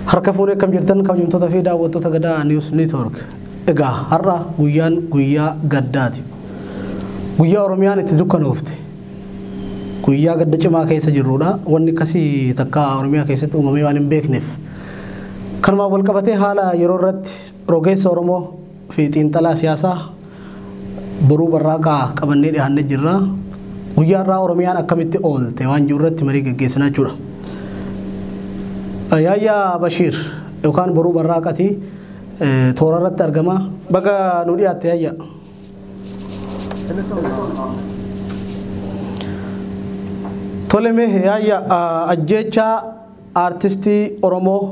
Harka fuunee akkam jirtan kabajamtoota fi daawwattoota gadaa News Network. Egaa har'a guyyaan guyyaa gaddaati. Guyyaa Oromiyaan itti dukkanoofte. Guyyaa gadda cimaa keessa jirrudha. Wanni akkasii takka Oromiyaa keessatti uumamee waan hin beekneef. Kanumaan wal qabatee haala yeroo irratti rogeessa Oromoo fi xiinxalaa siyaasaa boruu barraaqaa qabannee dhiyaannee jirra. Guyyaa irraa Oromiyaan akkamitti oolte waan jiru irratti marii gaggeessina jechuudha. Yaayyaa Bashiir yookaan boruu barraaqati toora irratti argama. Baga nu dhiyaatte yaayyaa. Tole mee yaayyaa ajjeechaa aartistii Oromoo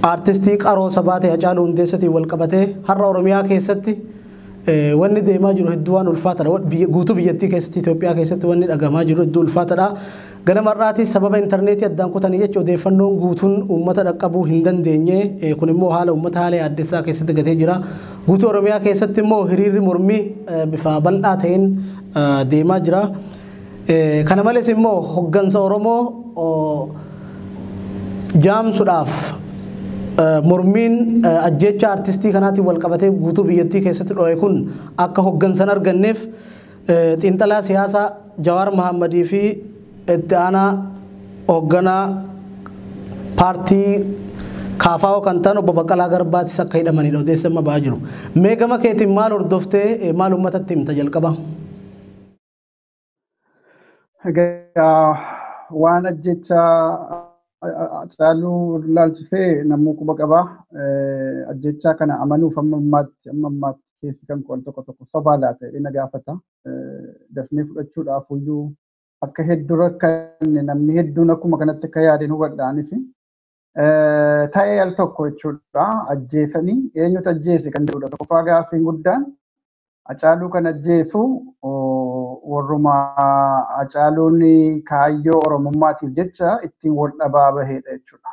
aartistii qaroo sabaa ta'e Hacaaluu Hundeessatiin wal qabatee har'a Oromiyaa keessatti eh, wanni deemaa jiru hedduu waan ulfaataadha. Wa- biyya- Guutuu biyyattii keessatti Itoophiyaa keessatti wanni dhagamaa jiru hedduu ulfaataadha. Ganama har'aatis sababa intarneetii addaan kutanii jecha odeeffannoon guutuun uummata dhaqqabuu hin dandeenye. Eh, Kun immoo haala uummata haala yaaddessaa keessatti gatee jira. Guutuu Oromiyaa keessatti immoo hiriirri mormii eh, bifa bal'aa ta'een eh, deemaa jira. Kana malees immoo hoggansa Oromoo jaamsudhaaf mormiin ajjeechaa artistii kanaatiin wal qabatee guutuu biyyattii keessatti dho'e kun akka hoggansa hin arganneef xiinxalaa siyaasaa Jawaar Mahammadii fi itti aanaa hogganaa paartii kaafaa'oo kan ta'an obbo Baqqalaa Garbaatis akka hidhamanidha odeessi amma ba'aa jiru. Mee gama keetiin maal hordoftee maal uummatatti himta jalqaba? Egaa waan ajjecha Hacaaluu ilaalchisee namuu quba qabaa. Ajjechaa kana amanuuf amma ammaatti amma ammaatti keessi kan qo'an tokko tokko sobaa laata jedhee na gaafata. Dafnee fudhachuudhaaf iyyuu akka hedduu rakkanne namni hedduun akkuma kanatti akka yaadeen hubadha anis. ta'ee al tokko jechuudha ajjeesanii eenyutu ajjeese kan jedhudha tokkoffaa gaaffiin guddaan acaaluu kan ajjeesu warruma acaaluun kaayyoo oromummaatiif jecha ittiin wal dhabaa baheedha jechuudha.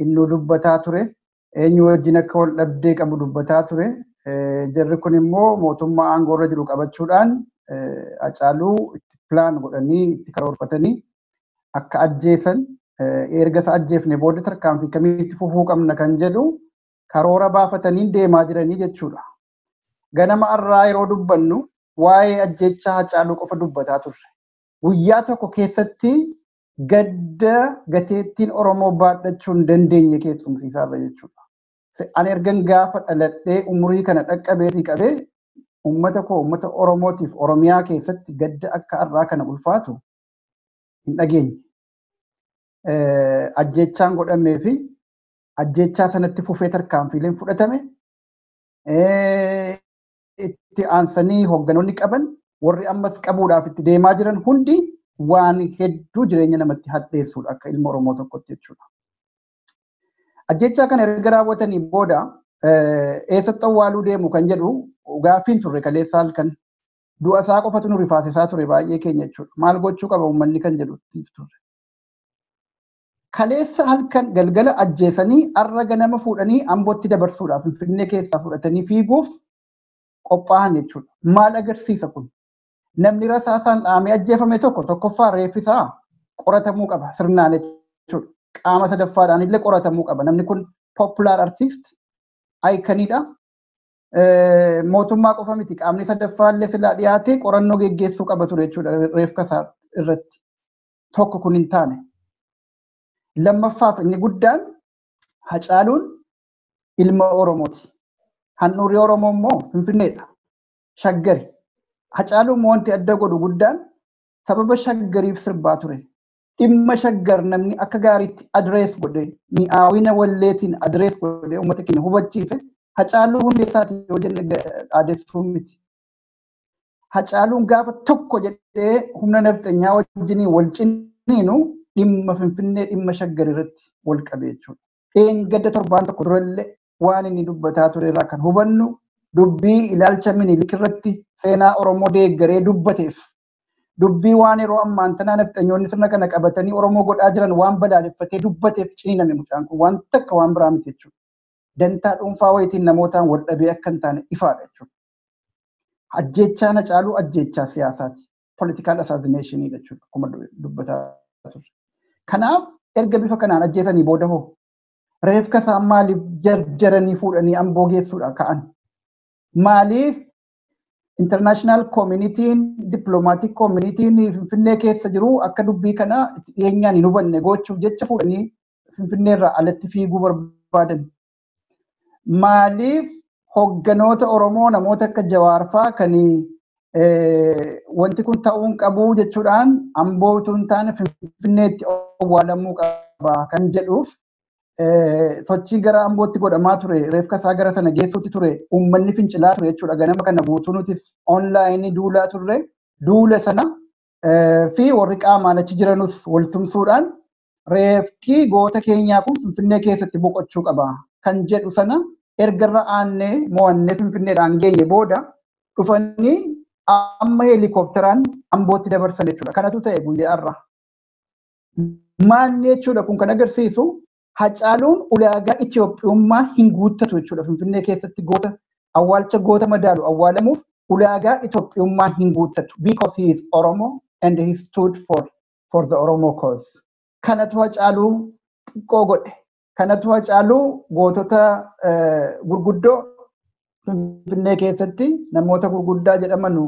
Innuu dubbataa ture eenyu wajjin akka wal dhabdee qabu dubbataa ture jarri kun immoo mootummaa aangoorra jiru qabachuudhaan acaaluu itti pilaan godhanii itti karoorfatanii akka ajjeesan erga isa ajjeefne booda tarkaanfii kamitti fufuu qabna kan jedhu karoora baafatanii deemaa jiranii jechuudha. Ganama har'aa yeroo dubbannu waa'ee ajjeechaa Hacaaluu qofa dubbataa turre. Guyyaa tokko keessatti gadda gateettiin Oromoo baadhachuu hin dandeenye keessumsiisaa irra jechuudha. Ani ergan gaafa dhaladhee umurii kana dhaqqabeetii qabee uummata koo uummata Oromootiif Oromiyaa keessatti gadda akka har'aa kana ulfaatu hin dhageenye. Ajjeechaan godhamee fi ajjeechaa sanatti fufee tarkaanfiileen fudhatame itti aansanii hoogganoonni qaban warri ammas qabuudhaaf itti deemaa jiran hundi waan hedduu jireenya namatti hadheessuudha akka ilma Oromoo tokkotti jechuudha. Ajjeechaa kana erga raawwatanii booda eessatti awwaaluu deemu kan jedhu gaaffiin turre kaleessa halkan Du'a isaa qofatu nu rifaasisaa ture baay'ee keenya jechuudha. Maal gochuu qaba uummanni kan jedhu turre. Kaleessa halkan galgala ajjeesanii har'a ganama fuudhanii ambootti dabarsuudhaaf finfinnee keessaa fudhatanii fiiguuf qophaa'an jechuudha. Maal agarsiisa kun? Namni rasaasaan dhaamee ajjeefame tokko tokkoffaa reeffisaa qoratamuu qaba sirnaan jechuudha. Qaama sadaffaadhaan illee qoratamuu qaba. Namni kun popular artist ayikaniidha. mootummaa qofa miti qaamni sadaffaallee silaa dhiyaatee qorannoo geggeessuu qaba ture jechuudha reefka isaa irratti tokko kun hin taane. Lammaffaaf inni guddaan hacaaluun ilma Oromooti. Handhuurri Oromoo immoo Finfinneedha. Shaggari. Hacaaluun wanti adda godhu guddaan sababa shaggariif sirbaa ture. dhimma shaggar namni akka gaariitti adirees godhe mi'aawina walleetiin adirees godhe uummata keenya hubachiise hacaaluu hundeessaati yoo jenne dhaadessuu miti. Hacaaluun gaafa tokko jedhee humna nafxenyaa wajjiniin wal ciniinu dhimma finfinnee dhimma shaggar irratti wal qabe jechuudha. Dheengadda torbaan tokko durallee waan inni dubbataa ture irraa kan hubannu dubbii ilaalcha minilik irratti seenaa Oromoo deeggaree dubbateef dubbii waan yeroo ammaan tanaa nafxanyoonni sirna kana qabatanii Oromoo godhaa jiran waan balaaleffatee dubbateef ciniiname mucaan kun waan takka waan biraa miti jechuudha. Dantaa dhuunfaa wayitiin namootaan wal dhabee akka hin taane ifaadha jechuudha. Ajjeechaan Hacaaluu ajjeechaa siyaasaati. Political assassination jechuudha akkuma dubbataa turre. Kanaaf erga bifa kanaan ajjeesanii booda hoo reefka isaa maaliif jarjaranii fuudhanii amboo geessuudha ka'an? Maaliif international communitiin diplomatic communitiin finfinnee keessa jiru akka dubbii kana itti dhiyeenyaan hin hubanne gochuuf jecha fuudhanii finfinnee irraa alatti fiiguu barbaadan. Maaliif hogganoota Oromoo namoota akka Jawaarfaa kan wanti kun ta'uun qabu jechuudhaan amboo utuu hin taane finfinneetti owwaalamuu qaba kan jedhuuf sochii gara ambootti godhamaa ture reefka isaa gara sana geessuutti ture uummanni fincilaa ture jechuudha ganama kana guutuu nutis onlaayinii duulaa turre duula sana fi warri qaamaan achi jiranus waltumsuudhaan reefki goota keenyaa kun finfinnee keessatti boqochuu qaba kan jedhu sana ergarra aannee mo'annee finfinneedhaan geenye booda dhufanii amma heelikoopteraan ambootti dabarsan jechuudha kanatu ta'e guyyaa irraa. Maalni jechuudha kun kan agarsiisu Hacaaluun ulaagaa Itoophiyummaa hin guuttatu jechuudha. Finfinnee keessatti goota awwaalcha goota madaalu awwaalamuuf ulaagaa Itoophiyummaa hin guuttatu. Because he is Oromo and he stood for, for the Oromo cause. Kanatu Hacaaluu xiqqoo godhe. Kanatu hacaaluu gootota gurguddoo Finfinnee keessatti namoota gurguddaa jedhamanu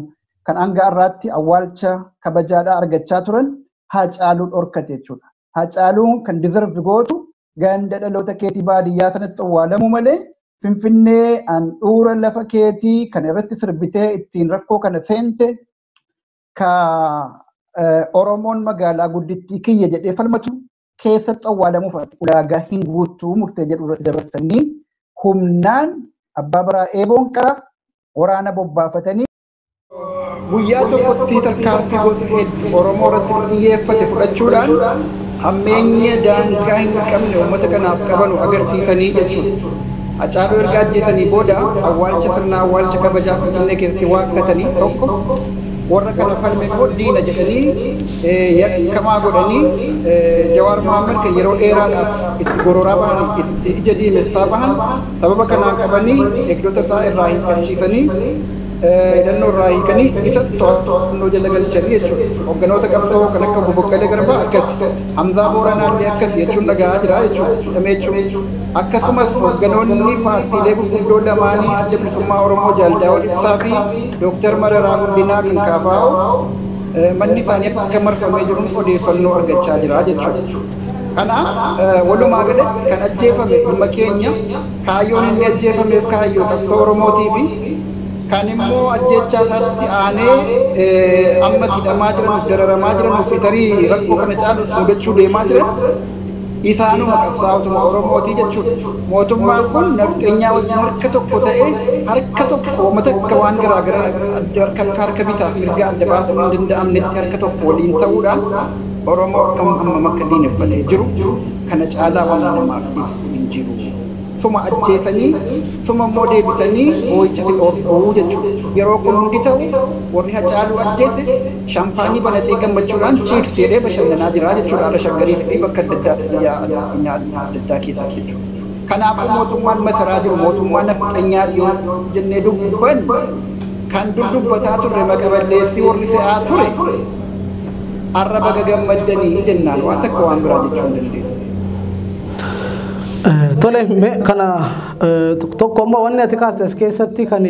kan hanga har'aatti awwaalcha kabajaadhaa argachaa turan hacaaluu dhorkate jechuudha. Hacaaluu kan dizervi gootu ganda dhaloota keetii baadiyyaa sanatti awwaalamuu malee Finfinnee handhuura lafa keetii kan irratti sirbitee ittiin rakkoo kana seente ka Oromoon magaalaa guddittii kiyya jedhee falmatu keessatti awwaalamuuf ati ulaagaa hin guuttuu murtee jedhu irratti dabarsanii humnaan abbaa baraa eeboon qara waraana bobbaafatanii guyyaa tokkotti tarkaanfii gosa hedduu Oromoo irratti xiyyeeffate fudhachuudhaan hammeenya daangaa hin qabne uummata kanaaf qabanu agarsiisanii jechuudha. Hacaaluu erga ajjeesanii booda awwaalcha sirna awwaalcha kabajaa Finfinnee keessatti waakkatanii tokko Warra kana falme immoo diina jedhanii yakkamaa godhanii Jawaar Mohaammed kan yeroo dheeraadhaaf itti gororaa bahan, itti ija diimessaa bahan sababa kanaan qabanii eegdota isaa irraa hiikkachiisanii, hidhannoo irraa hiikanii isas to'annoo jala galchanii jechuudha. Hogganoota qabsoo kan akka Obbo Boqqalee Garbaa akkasi. Hamzaa Booranaa illee akkasi jechuun dhaga'aa jira jechuudha. Hidhamee jechuun. Akkasumas hogganoonni paartiilee gurguddoo lamaanii Adda Bilisummaa Oromoo Jaal Daawud Ibsaa fi Dooktar Mararaa Guddinaa kan kfo manni isaanii akka marfamee jiruun odeeffannoo argachaa jira jechuudha. Kanaaf walumaa galatti kan ajjeefame ilma keenya, kaayyoon inni ajjeefameef kaayyoo qabsoo Oromootiifi kan immoo ajjeechaa isaatti aanee ammas hidhamaa jiranuuf dararamaa jiranuufi tarii rakkoo kana caalus mudachuu deemaa jiran Isaanuma qabsaa'otuma Oromooti jechuudha. Mootummaan kun nafxenyaa wajjin harka tokko ta'ee harka tokko woma takka waan garaa garaa adda akka harka bitaaf mirgaa adda baasuun hin danda'amnetti harka tokko waliin ta'uudhaan Oromoo akkam hammam akka diineffatee jiru kana caalaa wanni namaaf ibsu hin jiru. Suma ajjeesanii suma immoo deebisanii boo'icha si dhoorku jechuudha. Yeroo kun hundi ta'u warri Hacaaluu ajjeese, Shaampaanii banatee gammachuudhaan chiirs jedhee bashannanaa jira jechuudha. Har'a Shaggariif fi bakka adda addaatti biyyaa addunyaa adda addaa keessatti jechuudha. Kanaafuu mootummaan masaraa jiru mootummaa nafxanyaati yoo jennee dubbanne kan dur dubbataa turre maqa balleessii warri se'aa ture har'a baga gammaddanii jennaan waan takka waan biraa jechuu hin dandeenyu. Tole mee kana tokko amma wanni ati kaaste as keessatti kan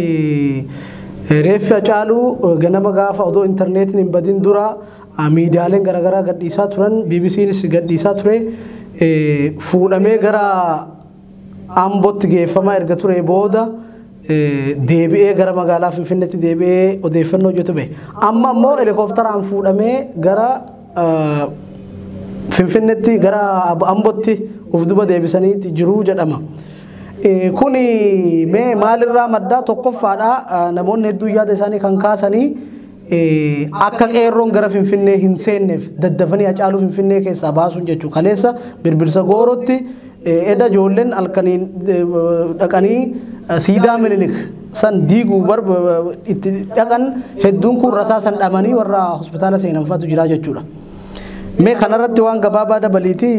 Reeffi Hacaaluu ganama gaafa odoo intarneetiin hin badin dura miidiyaaleen garaagaraa gadhiisaa turan BBCnis gadhiisaa ture fuudhamee gara Ambootti geeffamaa erga ture booda deebi'ee gara magaalaa Finfinneetti deebi'ee odeeffannoo hojjetu bahe. Amma immoo helikoptaraan fuudhamee gara Finfinneetti gara Ambotti of duba deebisaniiti jiruu jedhama. Kuni mee maalirraa maddaa tokkoffaadha namoonni hedduun yaada isaanii kan kaasanii akka qeerroon gara Finfinnee hin seenneef daddafanii Hacaaluu Finfinnee keessaa baasuun jechuu kaleessa birbirsa goorotti Eda ijoolleen halkaniin dhaqanii siidaa minilik san diiguu itti dhaqan hedduun kun rasaa san dhamanii warra hospitaala seenan fa'atu jira jechuudha. Mee kanarratti waan gabaabaa dabaliiti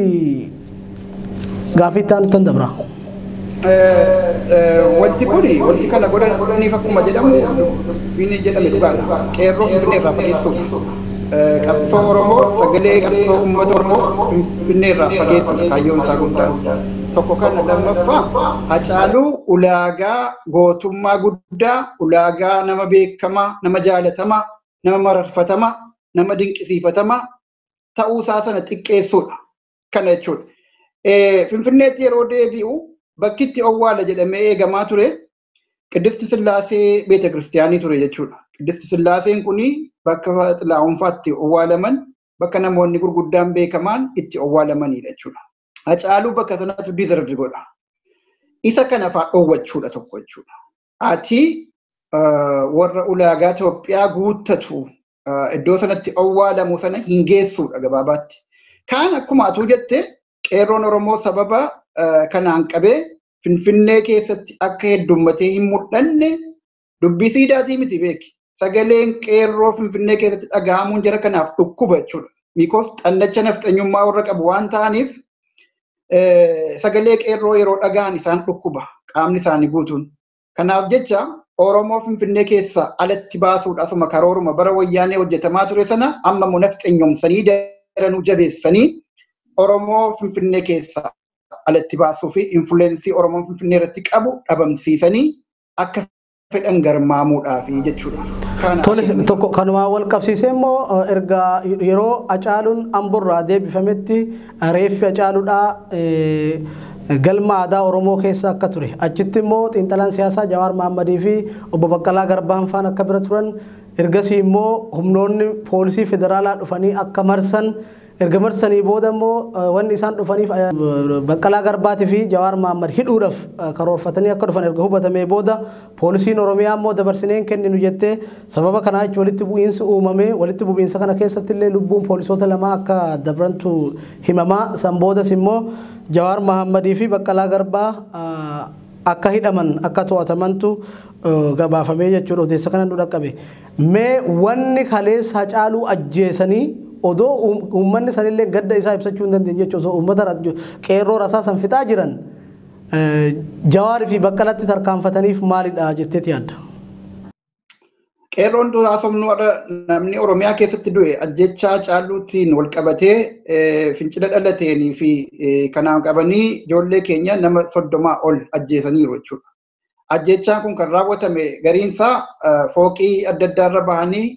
gaafii itti aanutti dabra. Wanti kun wanti kana godhan godhaniif akkuma jedhamu dubbiin jedhame dhugaadha. Qeerroo Finfinnee irraa fageessuudha. Qabsoo Oromoo sagalee qabsoo uummata Oromoo Finfinnee irraa fageessuudha kaayyoon isaa guddaan. Tokko kana lammaffaa Hacaaluu ulaagaa gootummaa guddaa, ulaagaa nama beekamaa, nama jaalatamaa, nama mararfatamaa, nama dinqisiifatamaa ta'uu isaa sana xiqqeessuudha. Kana jechuudha. Finfinneetti yeroo deebi'u bakki itti owwaala jedhamee eegamaa ture Qiddisti Sillaasee beeta kiristiyaanii ture jechuudha. Qiddisti Sillaaseen kun bakka xilaa'oonfaatti owwaalaman bakka namoonni gurguddaan beekamaan itti owwaalamanidha jechuudha. Hacaaluu bakka sanatu dizervi godha. Isa kana fa'aa dhoowwachuudha tokko jechuudha. Ati warra ulaagaa Itoophiyaa guuttatu iddoo sanatti owwaalamu sana hin geessuudha gabaabaatti. Kaan akkuma atuu jette qeerroon Oromoo sababa kanaan qabee Finfinnee keessatti akka heddummatee hin mul'anne dubbii siidaatii miti beeki. Sagaleen qeerroo Finfinnee keessatti dhaga'amuun jara kanaaf dhukkuba jechuudha. Miikoos xannacha nafxanyummaa warra qabu waan ta'aniif sagalee qeerroo yeroo dhaga'an isaan dhukkuba qaamni isaanii guutuun. Kanaaf jecha Oromoo Finfinnee keessaa alatti baasuudha asuma karooruma bara wayyaanee hojjetamaa ture sana amma immoo nafxenyomsanii daranuu jabeessanii Oromoo Finfinnee keessaa alatti baasuu fi infuleensii Oromoon Finfinnee irratti qabu dhabamsiisanii akka fedhan garmaamuudhaaf jechuudha. Kana Tole akeekni tokko kanumaan wal qabsiisee immoo eh, erga yeroo Acaaluun Amborraa deebifametti Reeffi Hacaaludhaa galma aadaa Oromoo keessa akka ture achitti immoo xiinxalaan siyaasaa Jawaar Mahammadii fi obbo Baqqalaa Garbaan faan akka bira turan ergasii immoo humnoonni poolisii federaalaa dhufanii akka marsan erga marsanii booda immoo wanni isaan dhufaniif Baqqalaa Garbaatii fi Jawaar Mahammad hidhuudhaaf karoorfatanii akka dhufan erga hubatamee booda Poolisiin Oromiyaa immoo dabarsinee hin kenninu jettee sababa kanaa jechuun walitti bu'iinsi uumamee walitti bu'iinsa kana keessatti illee lubbuun poolisoota lamaa akka dabrantu himamaa san boodas immoo Jawaar Mahammadii fi Baqqalaa Garbaa akka hidhaman akka to'atamantu gabaafamee jechuudha odeessa kana nu dhaqqabe. Mee wanni kaleessa hacaaluu ajjeesanii odoo uummanni sanillee gadda isaa ibsachuu hin dandeenye jechuudha osoo uummata qeerroo rasaa san fixaa jiran Jawaar fi Baqqalatti tarkaanfataniif maalidha jetteeti yaadda? Qeerroon duraa somnuu har'a namni Oromiyaa keessatti du'e ajjechaa caaluutiin wal qabatee fincila dhalateenii fi kanaan qabanii ijoollee keenya nama soddomaa ol ajjeesaniiru jechuudha. Ajjechaan kun kan raawwatame gariinsaa fooqii adda addaa irra bahanii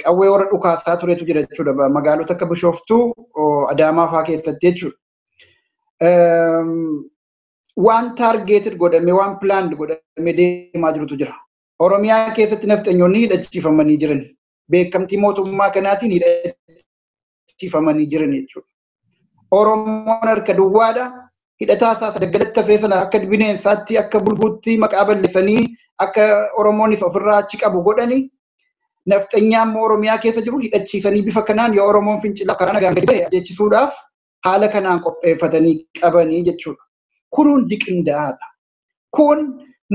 qawwee warra dhukaasaa turetu jira jechuudha. Magaalota akka Bishooftuu, Adaamaa fa'aa keessatti jechuudha. Waan taargeeted godhame waan pilaand godhame deemaa jirutu jira. Oromiyaa keessatti nafxanyoonni hidhachiifamanii jiran beekamtii mootummaa kanaatiin hidhachiifamanii jiran jechuudha. Oromoon harka duwwaadha. Hidhataa isaa sadaggalatti hafee sana akka bineensaatti akka bulguutti maqaa balleessanii akka Oromoonis ofirraa achi qabu godhani. Nafxanyaa immoo Oromiyaa keessa jiru hidhachiisanii bifa kanaan yoo Oromoon fincilaaf karaa nagaan gadi ba'e ajjeechisuudhaaf haala kanaan qopheeffatanii qabanii jechuudha. Kun hundi qindaa'aadha. Kun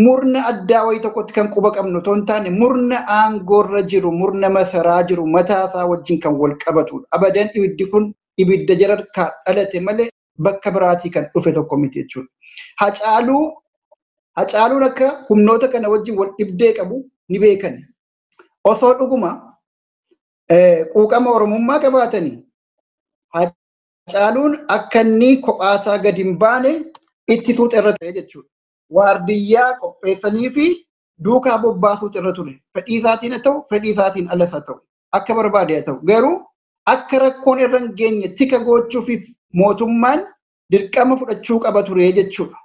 murna addaa wayii tokkotti kan quba qabnu otoo hin taane murna aangoorra jiru, murna masaraa jiru mataasaa wajjin kan wal qabatudha. Abadan ibiddi kun ibidda jararkaa dhalate malee bakka biraatii kan dhufe tokko miti jechuudha. Hacaaluu Hacaaluun akka humnoota kana wajjin wal dhibdee qabu ni beekan. Osoo dhuguma quuqama Oromummaa qabaatanii Haacaaluun akka inni kophaasaa gad hin baane itti suuta irra ture jechuudha. Waardiyyaa qopheessanii fi duukaa bobbaasuutu irra ture. Fedhii isaatiin haa ta'u, fedhii isaatiin alas haa ta'u, akka barbaade haa ta'u. Garuu akka rakkoon irra hin geenye tika goochuufis mootummaan dirqama fudhachuu qaba ture jechuudha.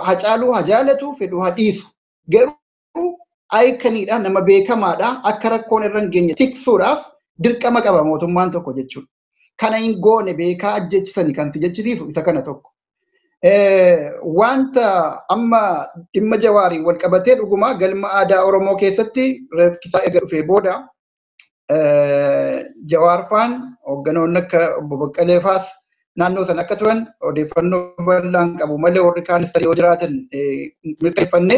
Hacaaluu haa jaalatu, fedhu haa dhiisu. Garuu ayikanidha nama beekamaadha akka rakkoon irra hin geenye tiksuudhaaf dirqama qaba mootummaan tokko jechuudha. Kana hin goone beekaa ajjechisani kan si jechisiisu isa kana tokko. Wanta amma dhimma jawaariin wal qabatee dhugumaa galma aadaa Oromoo keessatti reefkisaa erga dhufee booda Jawaarfaan hoogganoonni akka obbo Baqqalee faas naannoo sana akka turan odeeffannoo bal'aan qabu malee warri kaan isa yoo jiraatan mirkaneeffanne.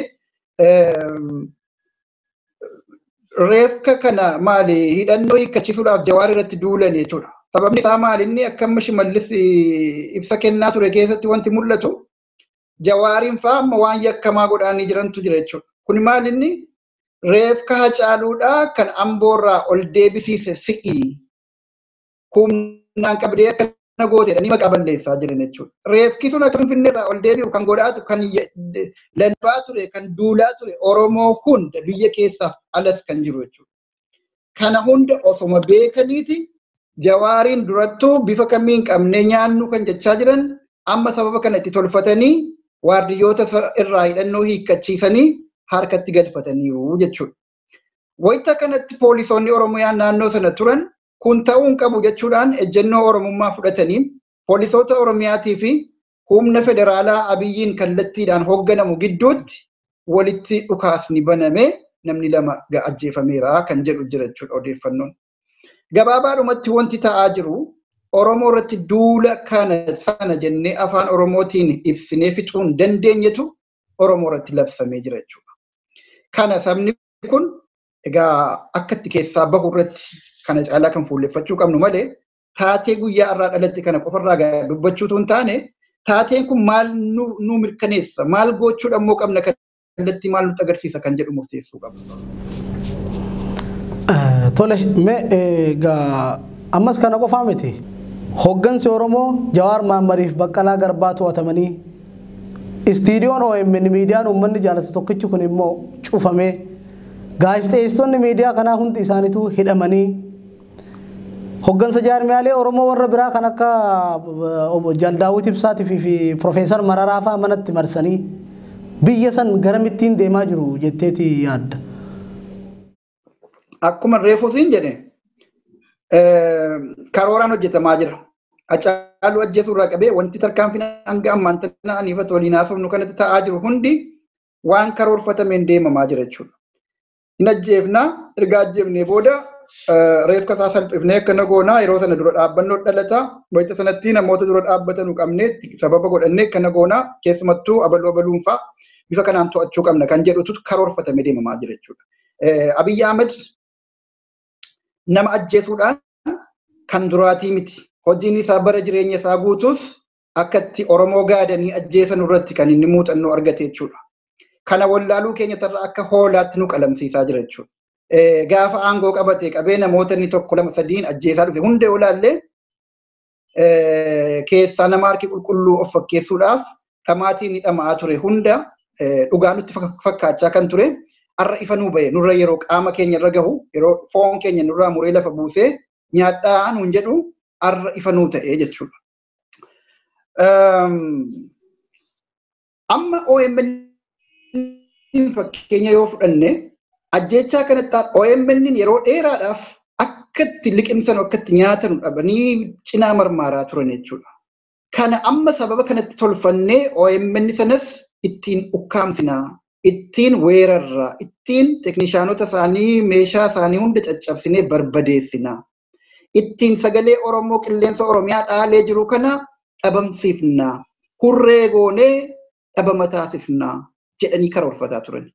Reefka kana maali hidhannoo hiikkachisuudhaaf Jawaar irratti duulan jechuudha. Sababni isaa maali inni akka amma shimallis ibsa kennaa ture keessatti wanti mul'atu Jawaariin fa'aa amma waan yakkamaa godhaanii jirantu jira jechuudha. Kun maali inni Reefka Hacaaluudhaa kan Amboorraa ol deebisiise si'i. Humnaan qabdee akkana goote jedhanii maqaa balleessaa jiran jechuudha. Reefki sun akka Finfinneerraa ol deebi'u kan godhaatu kan lallabaa ture kan duulaa ture Oromoo hunda biyya keessaaf alas kan jiru jechuudha. Kana hunda osoma beekaniiti jawaariin durattuu bifa kamiin qabnee nyaannu kan jechaa jiran amma sababa kana itti tolfatanii waardiyyoota irraa hidhannoo hiikkachiisanii harkatti galfataniiru jechuudha. Wayita kanatti poolisoonni Oromiyaa naannoo sana turan kun ta'uu hin qabu jechuudhaan ejjennoo Oromummaa fudhataniin poolisoota Oromiyaatii fi humna federaalaa Abiyyiin kallattiidhaan hoogganamu gidduutti walitti dhukaasni baname namni lama ajjeefameera kan jedhu jira jechuudha odeeffannoon. Gabaabaadhumatti wanti ta'aa jiru Oromoo irratti duula kana sana jennee afaan Oromootiin ibsinee fixuu hin dandeenyetu Oromoo irratti labsamee jira jechuudha. Kana sabni kun egaa akka itti keessaa bahu irratti kana caalaa kan fuulleffachuu qabnu malee taatee guyyaa irraa dhalatte kana qofarraa dubbachuutu hin taane taateen kun maal nu mirkaneessa maal gochuudha immoo qabna kallattii maal nutti agarsiisa kan jedhu murteessuu qabna. Tole, mee egaa ammas kana qofaa miti. Hoggansi Oromoo Jawaar Maammariif Baqqalaa Garbaa to'atamanii istiidiyoon OMN miidiyaan uummanni jaalatu tokkichi kun immoo cufamee gaazexeessitoonni miidiyaa kanaa hundi isaaniitu hidhamanii Hoggansa jaarmiyaalee Oromoo warra biraa kan akka Jaal Daawwit Ibsaatiif fi Profeesar Mararaa fa'aa manatti marsanii biyya san garamittiin deemaa jiru jetteeti yaadda. Akkuma reefuu siin jedhe karooraan hojjetamaa jira. Hacaaluu ajjeesuu irraa qabee wanti tarkaanfiin hanga ammaan tana aniifatu waliin haasofnu kanatti ta'aa jiru hundi waan karoorfatameen deemamaa jira jechuudha. hin ajjeefna erga ajjeefnee booda reefka isaa salphifnee akkana goona yeroo sana dura dhaabbannoo dhalata wayita sanatti namoota dura dhaabbatanu qabnee sababa godhannee akkana goona keessumattuu abaluu abaluun fa'a bifa kanaan to'achuu qabna kan jedhutu karoorfatamee deemamaa jira jechuudha. Abiyyi Ahmed nama ajjeesuudhaan kan duraatii miti. Hojiin isaa bara jireenya isaa guutuus akka itti Oromoo gaadanii ajjeesanu irratti kan inni muuxannoo argate jechuudha. Kana wallaaluu keenya tarra akka hoolaatti nu qalamsiisaa jira jechuudha. Gaafa aangoo qabate qabee namoota inni tokko lama sadiin ajjeesaa dhufe hunda yoo ilaalle keessaa nama harki qulqulluu of fakkeessuudhaaf dhamaatiin ni dhama'aa ture hunda dhugaa nutti fakkaachaa kan ture har'a ifa nuu bahe nurra yeroo qaama keenya irra gahu yeroo foon keenya nurraa muree lafa buusee nyaadhaa nuun jedhu har'a ifa nuu ta'ee jechuudha. Amma OMN fakkeenya yoo fudhanne ajjechaa kanatti OMN yeroo dheeraadhaaf akka itti liqimsan akka itti nyaatan dhabanii cinaa marmaaraa turan jechuudha. Kana amma sababa kanatti tolfannee OMN sanas ittiin ukkaamsinaa, ittiin weerarraa, ittiin teeknishaanota isaanii meeshaa isaanii hunda caccabsinee barbadeessinaa. Ittiin sagalee Oromoo qilleensa Oromiyaa dhaalee jiru kana dhabamsiifna, hurree goonee dhabama taasifna jedhanii karoorfataa turan.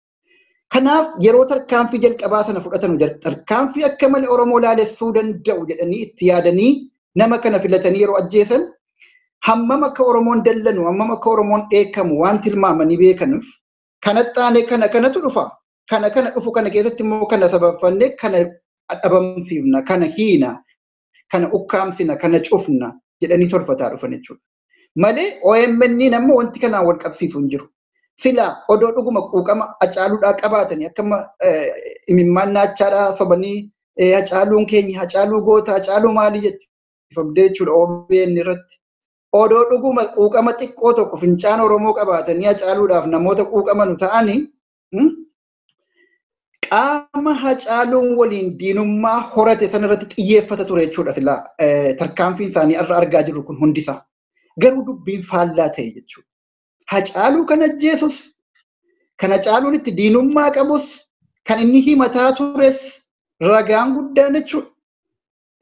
Kanaaf yeroo tarkaanfii jalqabaa sana fudhatanu tarkaanfii akka malee Oromoo laalessuu danda'u jedhanii itti yaadanii nama kana filatanii yeroo ajjeesan hammam akka Oromoon dallanu hammam akka Oromoon dheekamu waan tilmaamanii beekanuuf kanatti aanee kana kanatu dhufa kana kana dhufu kana keessatti immoo kana sababfannee kana dhabamsiifna kana hiina kana ukkaamsina kana cufna jedhanii tolfataa dhufan jechuudha. Malee OMN amma wanti kanaan wal qabsiisu hin jiru. Silaa odoo dhuguma quuqama hacaaluudhaa qabaatanii akka imimmaan naachaadhaa sobanii hacaaluun keenya hacaaluu goota hacaaluu maalii jetti ifamdee jechuudha OBN irratti. Odoo dhuguma quuqama xiqqoo tokko fincaan Oromoo qabaatanii hacaaluudhaaf namoota quuqamanu ta'anii qaama hacaaluun waliin diinummaa horate sana irratti xiyyeeffata ture jechuudha silaa tarkaanfiin isaanii irra argaa jirru kun hundisaa. Garuu dubbiin faallaa ta'e jechuudha. Hacaaluu kan ajjeesus, kan hacaaluun itti diinummaa qabus, kan inni himataa tures ragaan guddaan jechuudha.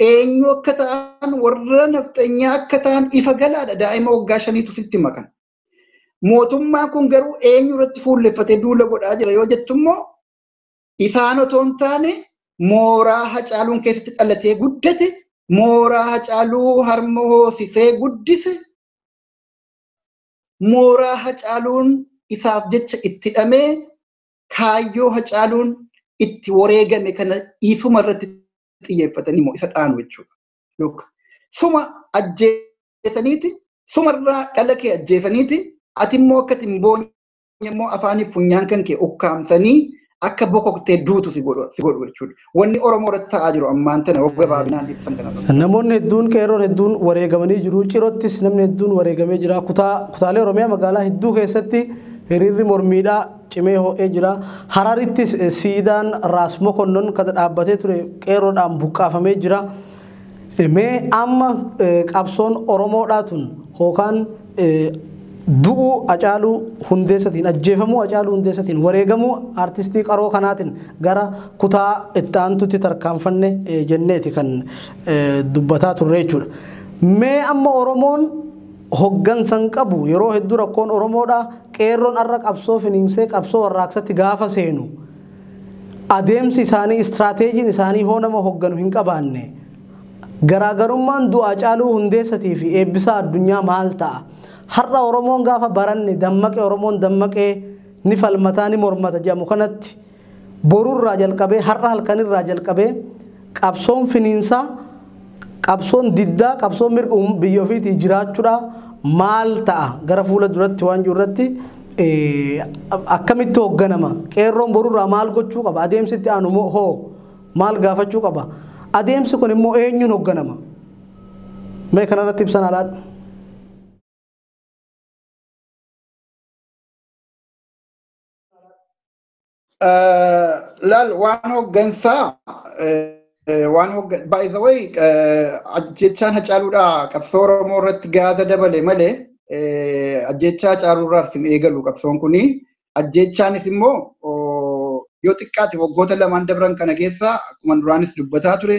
Eenyu akka ta'an warra nafxanyaa akka ta'an ifa galaadha daa'ima waggaa shaniitu sitti makan. Mootummaan kun garuu eenyu irratti fuulleffatee duula godhaa jira yoo jettu immoo ifaan otoo hin taane mooraa hacaaluun keessatti dhalatee guddate mooraa hacaaluu harma hoosisee guddise mooraa hacaaluun isaaf jecha itti dhamee kaayyoo hacaaluun itti wareegame kana dhiisuma irratti xiyyeeffatanii immoo isa dhaanu jechuudha. Suma ajjee ajjeesaniiti sumarraa dhala kee ajjeesaniiti ati immoo akka hin boonye immoo afaaniif funyaan kan kee ukkaamsanii akka bokoktee duutu si godhu si godhu jechuudha. Wanni Oromoo irratti ta'aa jiru ammaan tana wagga baabinaan ibsan kana irratti. Namoonni hedduun qeerroon hedduun wareegamanii jiru. Cirottis namni hedduun wareegamee jira. Kutaa kutaalee Oromiyaa magaalaa hedduu keessatti hiriirri mormiidhaa cimee ho'ee jira. Hararittis siidaan Raas Mokonnon kan dhaabbatee ture qeerroodhaan buqqaafamee jira. Mee amma qabsoon Oromoodhaa tun hookaan du'uu Acaaluu Hundeessatiin ajjeefamuu Acaaluu Hundeessatiin wareegamuu artistii qaroo kanaatiin gara kutaa itti aantutti tarkaanfanne jenneeti kan dubbataa turre jechuudha. Mee amma Oromoon hoggansa hin qabu yeroo hedduu rakkoon Oromoodhaa qeerroon har'a qabsoo finiinsee qabsoo warraaqsatti gaafa seenu Adeemsi isaanii, istraateejiin isaanii hoo nama hogganu hin qabaanne? Garaagarummaan Du'aa Caaluu Hundeessatii fi Eebbisaa Addunyaa maal ta'a? Har'a Oromoon gaafa baranne dammaqe Oromoon dammaqee ni falmataa ni mormata jedhamu kanatti borurraa jalqabee har'a halkanirraa jalqabee qabsoon finiinsaa Qabsoon diddaa qabsoo mirga uum- biyya ofiitii jiraachuudhaa maal ta'a gara fuula duratti waan jiru irratti eh, akkamitti hoogganama qeerroon borurraa maal gochuu qaba adeemsi itti aanu moo hoo maal gaafachuu qaba adeemsi kun immoo eenyuun hoogganama mee kanarratti ibsan alaadha. Laal waan hooggansaa waan hooggan by the way ajjechaan hacaaluudhaa qabsoo Oromoo irratti gaata dabale malee ajjechaa hacaaluurraa isin eegalu qabsoon kuni ajjechaanis immoo yoo xiqqaate waggoota lamaan dabran kana keessa akkuma duraanis dubbataa ture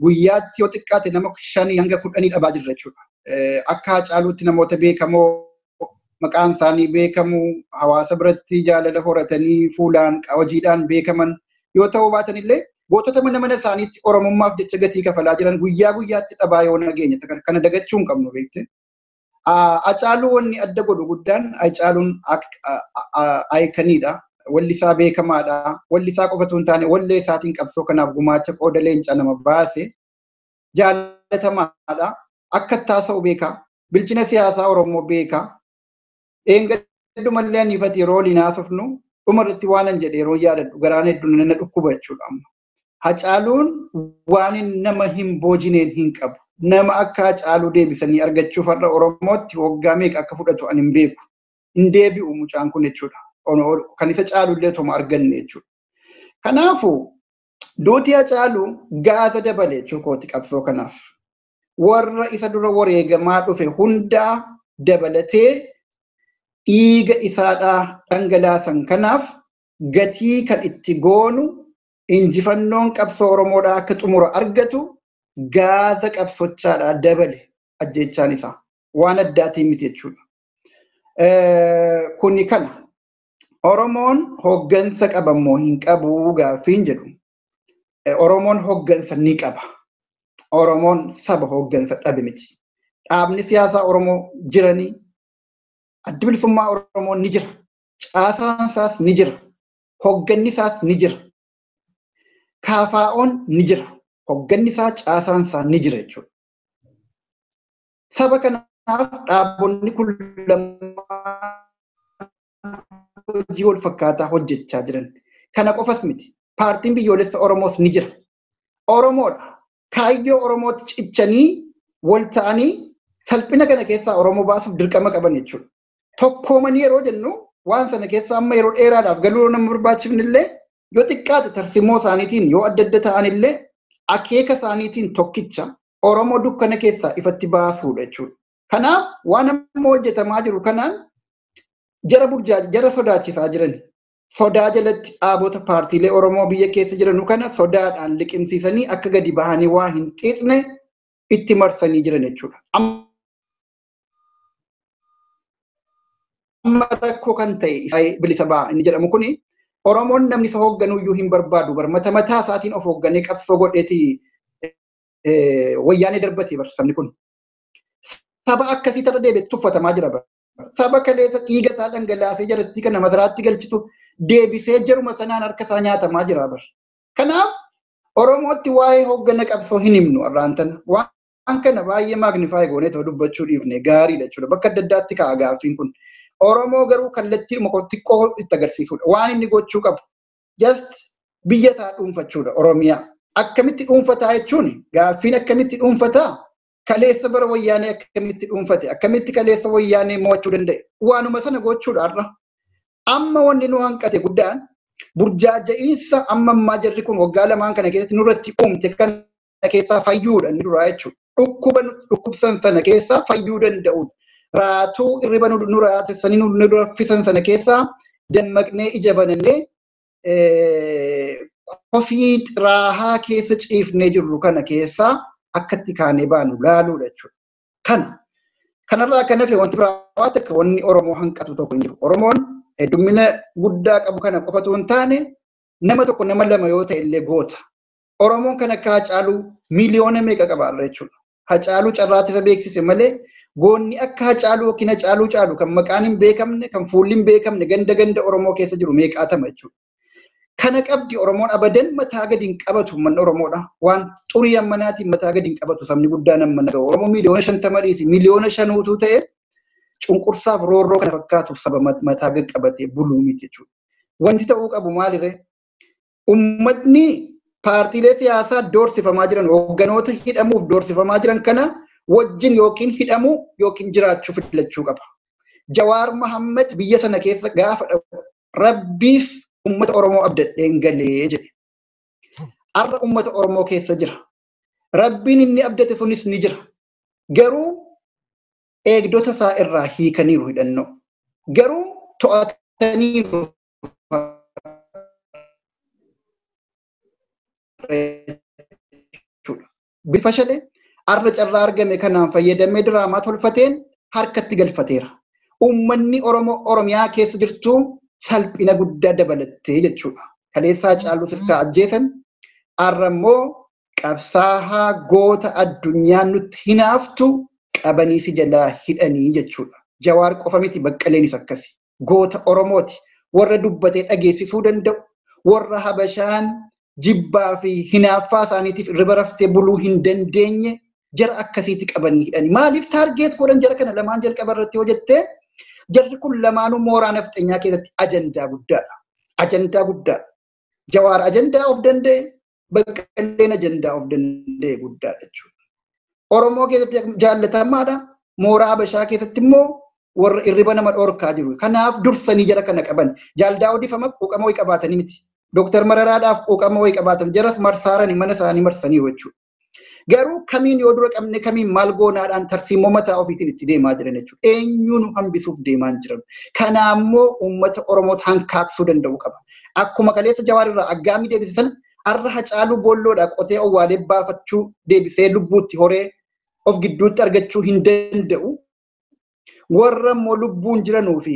guyyaatti yoo xiqqaate nama shanii hanga kudhanii dhabaa jirra jechuudha. Akka hacaaluutti namoota beekamoo maqaan isaanii beekamu hawaasa biratti jaalala horatanii fuulaan hojiidhaan beekaman yoo ta'uu baatan illee gootota mana mana isaaniitti oromummaaf jecha gatii kafalaa jiran guyyaa guyyaatti dhabaa yoo nageenya kana dagachuu hin qabnu beekte. Acaaluu wanni adda godhu guddaan Acaaluun aayikaniidha. Walli isaa beekamaadha. Walli isaa qofatu hin taane wallee isaatiin qabsoo kanaaf gumaacha qooda leencaa nama baase. jaalatamaadha. Akka itti haasa'u beeka. Bilchina siyaasaa Oromoo beeka. Dheengaddumallee ani ifati yeroo waliin haasofnu dhumarratti waanan jedhe yeroo yaadadhu garaan hedduun na dhukkuba jechuudha amma. Hacaaluun waan nama hin boojineen hin qabu. Nama akka Hacaaluu deebisanii argachuuf har'a Oromootti waggaa meeqa akka fudhatu ani hin beeku. Hin deebi'u mucaan kun jechuudha. Kan isa caalullee otoma arganne jechuudha. Kanaafuu Duuti Hacaaluu gaata dabale jechuu kooti qabsoo kanaaf. Warra isa dura wareegamaa dhufe hundaa dabalatee dhiiga isaadhaa dhangalaasan kanaaf gatii kan itti goonu injifannoon qabsoo Oromoodhaa akka xumura argatu gaata qabsochaadhaa dabale ajjeechaan isaa. Waan addaatiin miti jechuudha. Kuni kana. Oromoon hoggansa qaba moo hin qabu gaaffiin jedhu Oromoon hoggansa ni qaba. Oromoon saba hoggansa dhabe miti. Dhaabni siyaasaa Oromoo jiranii addi bilisummaa Oromoo ni jira. Caasaan isaas ni jira. Hogganni isaas ni jira. Kaafaa'oon ni jira. Hogganni isaa caasaan isaa ni jira jechuudha. Saba kanaaf dhaabonni kun lamaan hojii wal fakkaataa hojjechaa jiran. Kana qofas miti. Paartiin biyyoolessa Oromoos ni jira. Oromoodha. Kaayyoo Oromootti cichanii wal ta'anii salphina kana keessaa Oromoo baasuuf dirqama qaban jechuudha. Tokkoomanii yeroo jennu waan sana keessa amma yeroo dheeraadhaaf galuu nama barbaachifne illee yoo xiqqaate tarsimoo isaaniitiin yoo adda adda ta'an illee akeeka isaaniitiin tokkicha Oromoo dukkana keessaa ifatti baasuudha jechuudha. Kanaaf waan amma hojjetamaa jiru kanaan jara burjaaja jara sodaachisaa jiran sodaa jalatti dhaabota paartiilee Oromoo biyya keessa jiranu kana sodaadhaan liqimsiisanii akka gadi bahanii waa hin xiixne itti marsanii jiran jechuudha. Amma rakkoo kan ta'e Isaayee bilisa ba'a inni jedhamu kuni Oromoon namni isa hoogganuyyuu hin barbaadu barmata mataa isaatiin of hoogganee qabsoo godheeti wayyaanee darbatee bar sabni kun. Saba akkasii tarra deebi'ee tuffatamaa jira bar. Saba kaleessa dhiiga isaa dhangalaasee jarattii kana masaraatti galchitu deebisee jaruma sanaan harka isaa nyaatamaa jira bar. Kanaaf Oromootti waa'ee hoggana qabsoo hin himnu arraan tana. Waan kana baay'ee maagnifaay goonee ta'uu dubbachuu dhiifne gaariidha jechuudha. Bakka adda addaatti ka'a gaaffiin kun. Oromoo garuu kallattii xiqqoo itti agarsiisudha. Waan inni gochuu qabu. just biyya taa dhuunfachuudha Oromiyaa. Akkamitti dhuunfataa jechuun gaaffiin akkamitti dhuunfataa kaleessa bara wayyaanee akkamitti dhuunfate akkamitti kaleessa wayyaanee mo'achuu danda'e waanuma sana gochuudha har'a. Amma wanni nu hanqate guddaan burjaaja'iinsa amma ammaa jarri kun waggaa lamaan kana keessatti nurratti uumte kana keessaa fayyuudha inni duraa jechuudha. Dhukkuba dhukkubsan sana keessaa fayyuu danda'uun raatuu irriba nu raatessanii nu raffisan sana keessaa dammaqnee ija banannee kosii xiraahaa keessa ciifnee jirru kana keessaa akkatti kaanee baanu laaluudha jechuudha. Kana kanarraa kan hafe wanti biraa waan takka wanni Oromoo hanqatu tokko hin jiru. Oromoon heddumina guddaa qabu kana qofatu hin taane nama tokko nama lama yoo ta'e illee goota. Oromoon kan akka Hacaaluu miliyoona meeqa qaba har'a jechuudha. Hacaaluu carraatti isa beeksise malee goonni akka Hacaaluu yookiin Hacaaluu caalu kan maqaan hin beekamne kan fuulli hin beekamne ganda ganda Oromoo keessa jiru meeqaatama jechuudha. Kana qabdi Oromoon abadan mataa gadi hin qabatu uummanni Oromoodha. Waan xurii ammanaatiin mataa gadi hin qabatu sabni guddaan ammana ta'u. Oromoo miliyoona shantama dhiisi miliyoona shan utuu ta'e cunqursaaf roorroo kana fakkaatu saba mataa gadi qabatee buluu miti jechuudha. Wanti ta'uu qabu maaliree? ummatni paartiilee siyaasaa doorsifamaa jiran hoogganoota hidhamuuf doorsifamaa jiran kana wajjin yookiin hidhamuu yookiin jiraachuu filachuu qaba. Jawaar Mahammad biyya sana keessa gaafa dhaqu rabbiif ummata Oromoo abdadheen galee jedhe. Har'a ummata Oromoo keessa jira. Rabbiin inni abdate sunis ni jira. Garuu eegdota isaa irraa hiikaniiru hidhannoo. Garuu to'ataniiru Bifashalee arra carraa argame kanaan fayyadamee diraamaa tolfateen harkatti galfateera. Uummanni Oromoo Oromiyaa keessa jirtu salphina guddaa dabalattee jechuudha. Kaleessaa caaluu sirkaa ajjeesan arra immoo qabsaahaa goota addunyaan nutti hinaaftu qabanii si jalaa hidhanii jechuudha. Jawaar qofa miti baqqaleenis akkasi. goota Oromooti. Warra dubbatee dhageessisuu danda'u, warra Habashaan jibbaa fi hinaaffaa isaaniitiif irriba raftee buluu hin dandeenye jara akkasiiti qabanii hidhani. Maaliif taargeet godhan jara kana lamaan jalqaba irratti yoo jettee jarri kun lamaanuu mooraa nafxenyaa keessatti ajandaa guddaadha. Ajandaa guddaadha. Jawaar ajandaa of danda'e, Baqqaleen ajandaa of danda'e guddaadha jechuudha. Oromoo keessatti jaallatamaadha. Mooraa Habashaa keessatti immoo warra irriba nama dhorkaa jiru. Kanaaf dursanii jara kana qaban. Jaaldaa odeeffama quuqama wayii qabaatanii miti. Dooktar Mararaadhaaf quuqama wayii qabaatan jaras marsaarani mana isaanii marsaniiru jechuudha. Garuu kamiin yoo dura qabne kamiin maal goonaadhaan tarsiimoo mataa ofiitiin itti deemaa jiran jechuudha. Eenyuun hambisuuf deemaa hin jiran. Kanaammoo uummata Oromoo hankaaqsuu danda'u qaba. Akkuma kaleessa Jawaar irraa aggaamii deebise sana har'a Hacaaluu boolloodhaa qotee owwaalee baafachuu deebisee lubbuutti horee of gidduutti argachuu hin danda'u. Warra immoo lubbuun jiranuu fi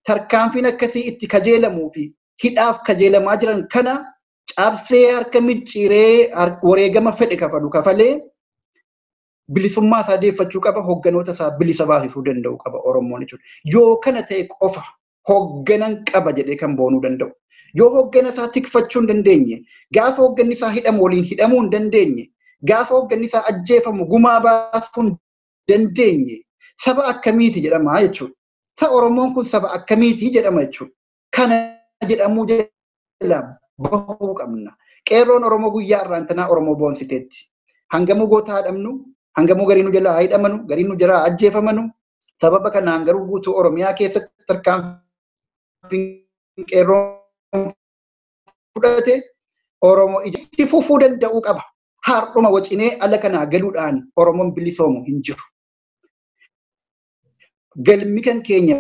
tarkaanfiin akkasii itti kajeelamuu fi hidhaaf kajeelamaa jiran kana cabsee harka micciiree wareegama fedhe kafalu kafalee bilisummaa isaa deeffachuu qaba hogganoota isaa bilisa baasisuu danda'u qaba Oromoon jechuudha. Yoo kana ta'e qofa hoogganan qaba jedhee kan boonuu danda'u. Yoo hooggana isaa tikfachuu hin dandeenye, gaafa hoogganni isaa hidhamu waliin hidhamuu hin dandeenye, gaafa hoogganni isaa ajjeefamu gumaa baasuu hin dandeenye, saba akkamiiti jedhama jechuudha. Sa Oromoon kun saba akkamiiti jedhama jechuudha. Kana jedhamuu jala bahuu qabna. Qeerroon Oromoo guyyaa irraantanaa Oromoo boonsiteetti. Hangamuu goota haa dhabnu, hangamuu garii nu jalaa haa hidhamanu, garii nu jalaa haa ajjeefamanu. Sababa kanaan garuu guutuu Oromiyaa keessatti tarkaanfiin qeerroon fudhate Oromoo itti fufuu danda'uu qaba. Har'uma wacinee ala kanaa galuudhaan Oromoon bilisoomu hin jiru. galmi kan keenya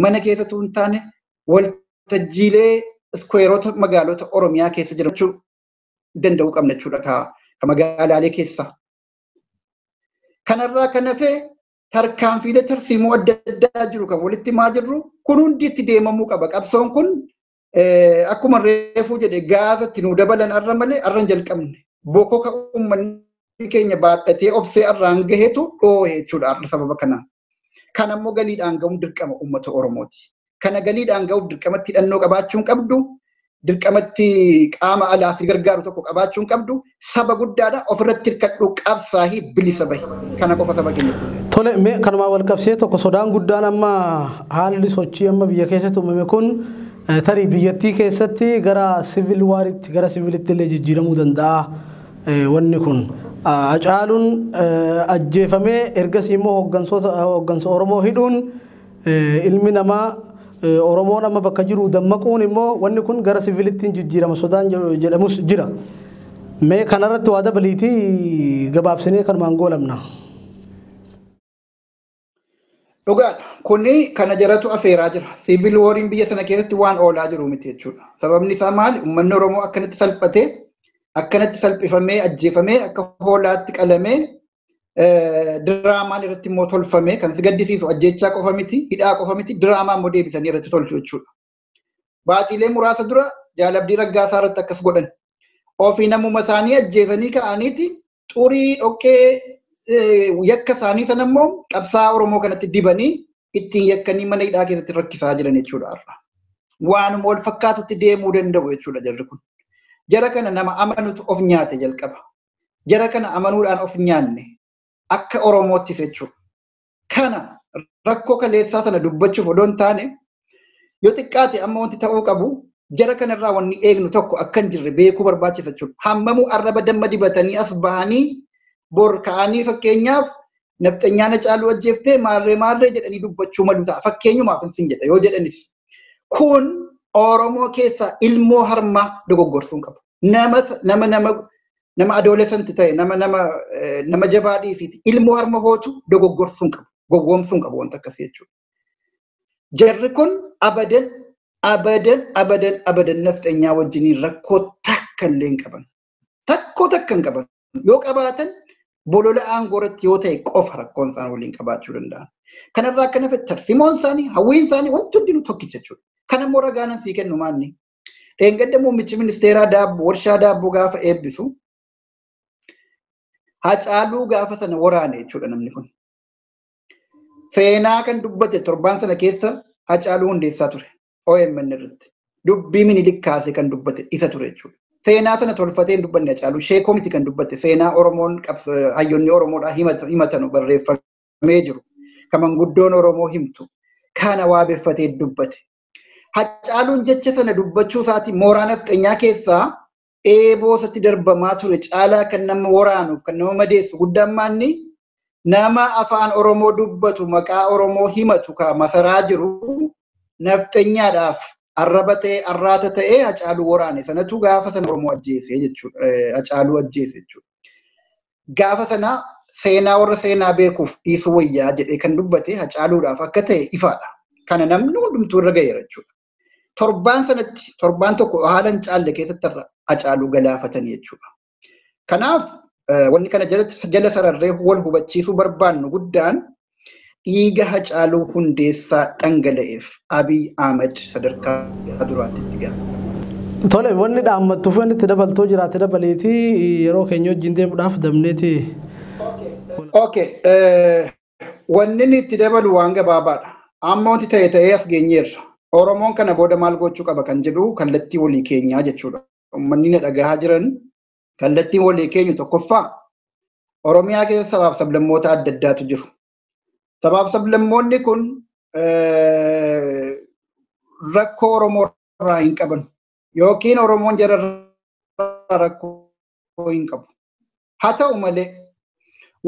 mana keessa tuun taane waltajjiilee iskweerota magaalota Oromiyaa keessa jiraachuu danda'uu qabna jechuudha ka magaalaalee keessaa. Kanarraa kan hafe tarkaanfiilee tarsiimoo adda addaa jiru kan walitti himaa jirru kun hundi itti deemamuu qaba. Qabsoon kun akkuma reefuu jedhe gaafa itti nu dabalan arra malee arra hin jalqabne bokoka uummanni keenya baadhatee obsee arraan gahetu dhoohe jechuudha arra sababa kanaan. Kan ammoo galiidhaan ga'uun dirqama uummata Oromooti. Kana galiidhaan ga'uuf dirqamatti hidhannoo qabaachuun qabdu, dirqamatti qaama alaa fi gargaaru tokko qabaachuun qabdu, saba guddaadha ofirratti hirkadhuu qabsaahii bilisa bahi kana qofa saba keenyatti. Tole mee kanumaa wal qabsee tokko sodaan guddaan amma haalli sochii amma biyya keessatti uumame kun eh, tarii biyyattii keessatti gara sivil waaritti gara sivilitti illee jijjiiramuu danda'a eh, wanni kun. Ah, Hacaaluun eh, ajjeefamee ergasii immoo hooggansoota- hooggansa Oromoo hidhuun Ilmi namaa Oromoon amma bakka jiru dammaquun immoo wanni kun gara siviilittiin jijjiirama sodaan jedhamus jira. Mee kanarratti waa dabaliitii gabaabsinee kanumaan goolabna. Dhugaadha. Kuni kana jaratu afeeraa jira. Siivil wooriin biyya sana keessatti waan oolaa jiru miti jechuudha. Sababni isaa maali? Uummanni Oromoo akkanatti salphatee, akkanatti salphifamee, ajjeefamee, akka hoolaatti qalamee diraamaan irratti immoo tolfamee kan si gaddisiisu ajjechaa qofa miti, hidhaa qofa miti, diraamaa immoo deebisanii irratti tolchu jechuudha. Baatiilee muraasa dura jaalabdii raggaasaa irratti akkas godhan. Ofii namuma isaanii ajjeesanii ka'aniiti xurii dhoqqee yakka isaanii sana immoo qabsaa Oromoo kanatti dibanii ittiin yakkanii mana hidhaa keessatti rakkisaa jiran jechuudha har'a. Waanuma wal fakkaatutti deemuu danda'u jechuudha jarri kun. Jara kana nama amanutu of nyaate jalqaba. jara kana amanuudhaan of nyaanne akka Oromoottis jechuudha. Kana rakkoo kaleessaa sana dubbachuuf odoo hin taane yoo xiqqaate amma wanti ta'uu qabu jara kanarraa wanni eegnu tokko akka hin jirre beekuu barbaachisa jechuudha. Hammamuu arraba damma dibatanii as bahanii bor ka'anii fakkeenyaaf nafxanyaa na caaluu ajjeeftee maarree maarree jedhanii dubbachuu malu ta'a. Fakkeenyumaaf hin jedha yoo jedhanis. Kun Oromoo keessaa ilmoo harmaa dogoggorsuun qabu. nama nama nama nama adolescent ta'e nama nama eh, nama jabaa dhiisiiti ilmoo harma hootu dogoggorsuun qabu gowwoomsuun qabu wanta akkasii jechuudha. Jarri kun abadan abadan abadan abadan nafxenyaa wajjiniin rakkoo takka illee hin qaban. Takkoo takka hin qaban. Yoo qabaatan bolola aangoo irratti yoo ta'e qofa rakkoon isaan waliin qabaachuu danda'an. Kanarraa akka nafe tarsimoon isaanii hawwiin isaanii wanti hundinuu tokkicha jechuudha. Kan ammoo ragaanan sii kennu maanni Dheengadda muummichi ministeeraa daab- warshaa daabboo gaafa eebbisu hacaaluu gaafa sana waraane jechuudha namni kun. Seenaa kan dubbate torbaan sana keessa hacaaluu hundeessaa ture OMN irratti. Dubbii minilik kaasee kan dubbate isa ture jechuudha. Seenaa sana tolfatee hin dubbanne hacaaluu sheekoo miti kan dubbate seenaa Oromoon qabs- hayyoonni Oromoodhaa himata- himatanu barreeffamee jiru. Kan manguddoon Oromoo himtu kana waabeffatee dubbate. Hacaaluun jecha sana dubbachuu isaatiin mooraa nafxanyaa keessaa eeboo isatti darbamaa ture caalaa kan nama waraanuuf kan nama madeessu guddaan maanni nama afaan Oromoo dubbatu maqaa Oromoo himatu ka masaraa jiru nafxanyaadhaaf arraba ta'e arraata ta'e Hacaaluu waraane sanatu gaafa sana Oromoo ajjeese jechuudha. Hacaaluu ajjeese jechuudha. Gaafa sana seenaa warra seenaa beekuuf dhiisuu wayyaa jedhee kan dubbate hacaaluudhaaf akka ta'e ifaadha. Kana namni hundumtuu irra ga'eera jechuudha. Torbaan sanatti torbaan tokko haala hin caalle keessatti irra hacaaluu galaafatanii jechuudha. Kanaaf wanni kana jala sararree wal hubachiisuu barbaannu guddaan Dhiiga Hacaaluu Hundeessaa dhangala'eef Abiy Ahmed sadarkaa duraatti itti gaafatama. Tole wanni dhaammattu fi wanni itti dabaltoo jiraate dabaleeti yeroo keenya wajjin deemuudhaaf dabneeti. Ok, wanni inni itti dabalu waan gabaabaadha. Amma wanti ta'e ta'ee as geenyeerra. Oromoon kana booda maal gochuu qaba kan jedhu kallattii walii keenyaa jechuudha. Uummanni na dhagahaa jiran kallattiin walii keenyu tokkoffaa Oromiyaa keessa sabaaf sablammoota adda addaatu jiru. Sabaaf sablammoonni kun rakkoo Oromoo irraa hin qaban yookiin Oromoon jara irraa rakkoo hin qabu. Haa ta'u malee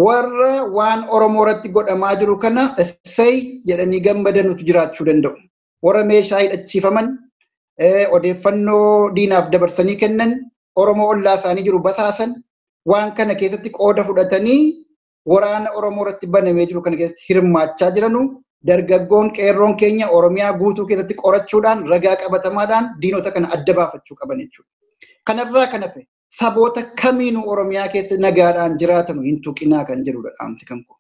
warra waan Oromoo irratti godhamaa jiru kana essay jedhanii gammadanutu jiraachuu danda'u. warra meeshaa hidhachiifaman odeeffannoo diinaaf dabarsanii kennan Oromoo ollaa isaanii jiru basaasan waan kana keessatti qooda fudhatanii waraana Oromoo irratti banamee jiru kana keessatti hirmaachaa jiranu dargaggoon qeerroon keenya Oromiyaa guutuu keessatti qorachuudhaan ragaa qabatamaadhaan diinota kana adda baafachuu qaban jechuudha. Kanarraa kan hafe saboota kamiinuu Oromiyaa keessa nagaadhaan jiraatanu hin tuqinaa kan jedhudha dhaamsi kan koo.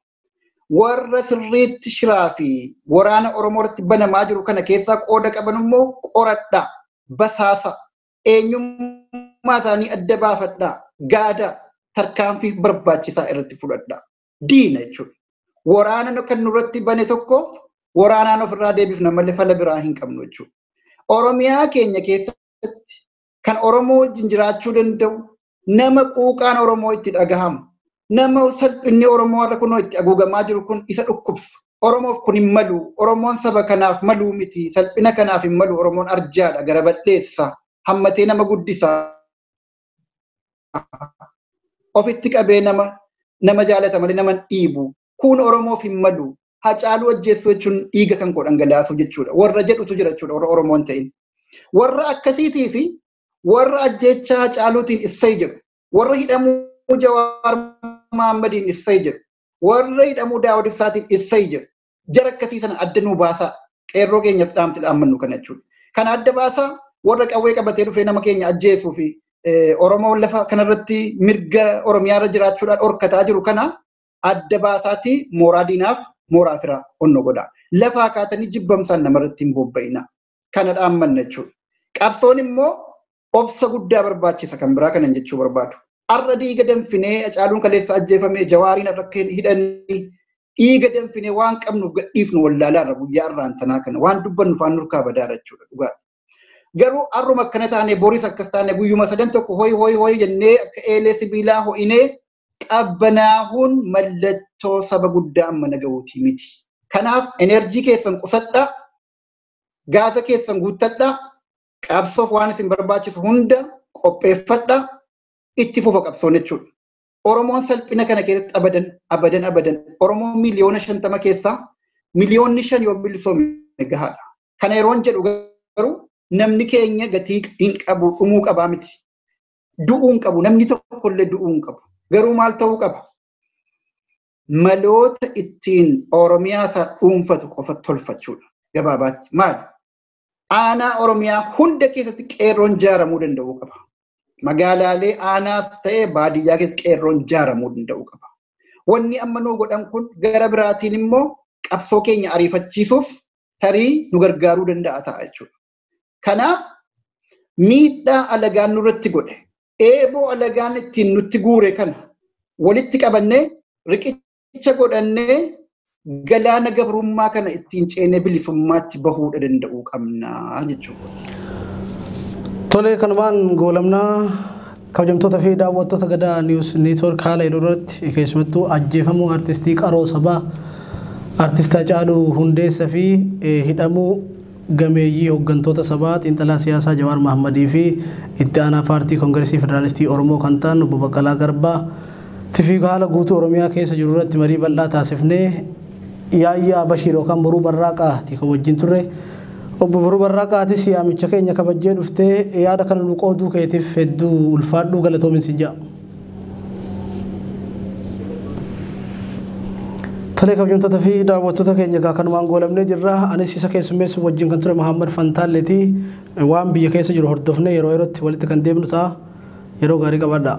warra sirriitti shiraa fi waraana Oromoo irratti banamaa jiru kana keessaa qooda qaban immoo qoradhaa, basaasa, eenyummaa isaanii adda baafadhaa, gaada tarkaanfii barbaachisaa irratti fudhadhaa. Diina jechuudha. Waraana kan nurratti bane tokko waraanaan ofirraa deebifna malee fala biraa hin qabnu jechuudha. Oromiyaa keenya keessatti kan Oromoo wajjin jiraachuu danda'u, nama quuqaan Oromoo itti dhagahamu, nama salphinni Oromoo har'a kunoo itti haguugamaa jiru kun isa dhukkubsu. Oromoof kun hin malu. Oromoon saba kanaaf maluu miti. Salphina kanaaf hin malu. Oromoon arjaadha, gara bal'eessa, hammatee nama guddisa. Ofitti qabee nama nama jaalata malee nama hin dhiibu. kuun Oromoof hin malu Hacaaluu ajjeessuu jechuun dhiiga kan koo dhangalaasuu jechuudha warra jedhutu jira jechuudha warra Oromoon ta'in. Warra akkasiitii fi warra ajjeechaa Hacaaluutiin issay jedhu warra hidhamuu Jawaar Mahaammadiin issay jedhu warra hidhamuu Daawud Ibsaatiin issay jedhu jara akkasii sana adda nuu baasaa qeerroo keenyas dhaamsi dhaammannu kana jechuudha. Kana adda baasaa warra qawwee qabatee dhufee nama keenya ajjeesuu fi Oromoo lafa kanarratti mirga Oromiyaarra jiraachuudhaan dhorkataa jiru kana adda baasaatii mooraa diinaaf mooraa firaa onno godhaa. Lafaa kaatanii jibbamsaan namarratti hin bobba'inaa. Kana dhaammanna jechuudha. Qabsoon immoo obsa guddaa barbaachisa kan biraa kanan jechuu barbaadu. Har'a dhiiga danfinee Hacaaluun kaleessa ajjeefamee Jawaariin har'a akka hidhanii dhiiga danfinee waan qabnuuf gadhiifnu wallaalaa irra guyyaa irraan tanaa kana waan dubbannu faan nurkaa badaara jechuudha dhugaadha. Garuu har'uma akkana taane boris akkas taane guyyuma sadan tokko hoy hoy hoy jennee akka eelee sibiilaa ho'inee qabbanaahuun mallattoo saba guddaa amma naga'uutii miti. Kanaaf enerjii keessan qusadhaa, gaasa keessan guuttadhaa, qabsoof waan isin barbaachisu hunda qopheeffadhaa, itti fufa qabsoon jechuudha. Oromoon salphina kana keessatti abadan abadan abadan Oromoon miliyoona shantama keessaa miliyoonni shan yoo bilisoome gahaadha. Kana yeroon jedhu garuu namni keenya gatii hin qabu dhumuu qabaa miti. Du'uu hin qabu namni tokkollee du'uu hin qabu. Garuu maal ta'uu qaba? Maloota ittiin Oromiyaa isaa dhuunfatu qofa tolfachuudha gabaabaatti. Maali? Aanaa Oromiyaa hunda keessatti qeerroon jaaramuu danda'uu qaba. Magaalaalee aanaas ta'ee baadiyyaa keessatti qeerroon jaaramuu danda'uu qaba. Wanni amma nuu godhan kun gara biraatiin immoo qabsoo keenya ariifachiisuuf tarii nu gargaaruu danda'a ta'a jechuudha. Kanaaf miidhaa alagaan nurratti godhe eeboo alagaan ittiin nutti guure kana walitti qabannee riqicha riqicha godhannee galaana gabrummaa kana ittiin ceenee bilisummaatti bahuudha danda'uu qabna jechuudha. Tolee kanumaan goolamnaa kabajamtoota fi daawwattoota gadaa niwus neetwoork haala yeroo irratti keessumattuu ajjeefamuu artistii qaroo sabaa artistaa caaluu hundeessa fi hidhamuu gameeyyii hoggantoota sabaa xiinxalaa siyaasaa Jawaar Mahammadii fi itti aanaa paartii Kongiresii Federaalistii Oromoo kan ta'an Obbo Baqqalaa Garbaa tifi haala guutuu Oromiyaa keessa jiru irratti marii bal'aa taasifnee Yaayyaa Bashiir yookaan Boruu Barraaqaa ti kan wajjin turre. Obbo Boruu Barraaqaa atis yaamicha keenya kabajjee dhuftee yaada kana nu qooduu keetiif hedduu ulfaadhu galatoomin sin ja'a. Tolee kabajamtoota fi daawwattoota keenya egaa kanumaan goolamnee jirra. Anis isa keessummeessu wajjin kan ture Mahammad Fantaalleeti. Waan biyya keessa jiru hordofnee yeroo yerootti walitti kan deemnu ta'a. Yeroo gaarii qabaadhaa.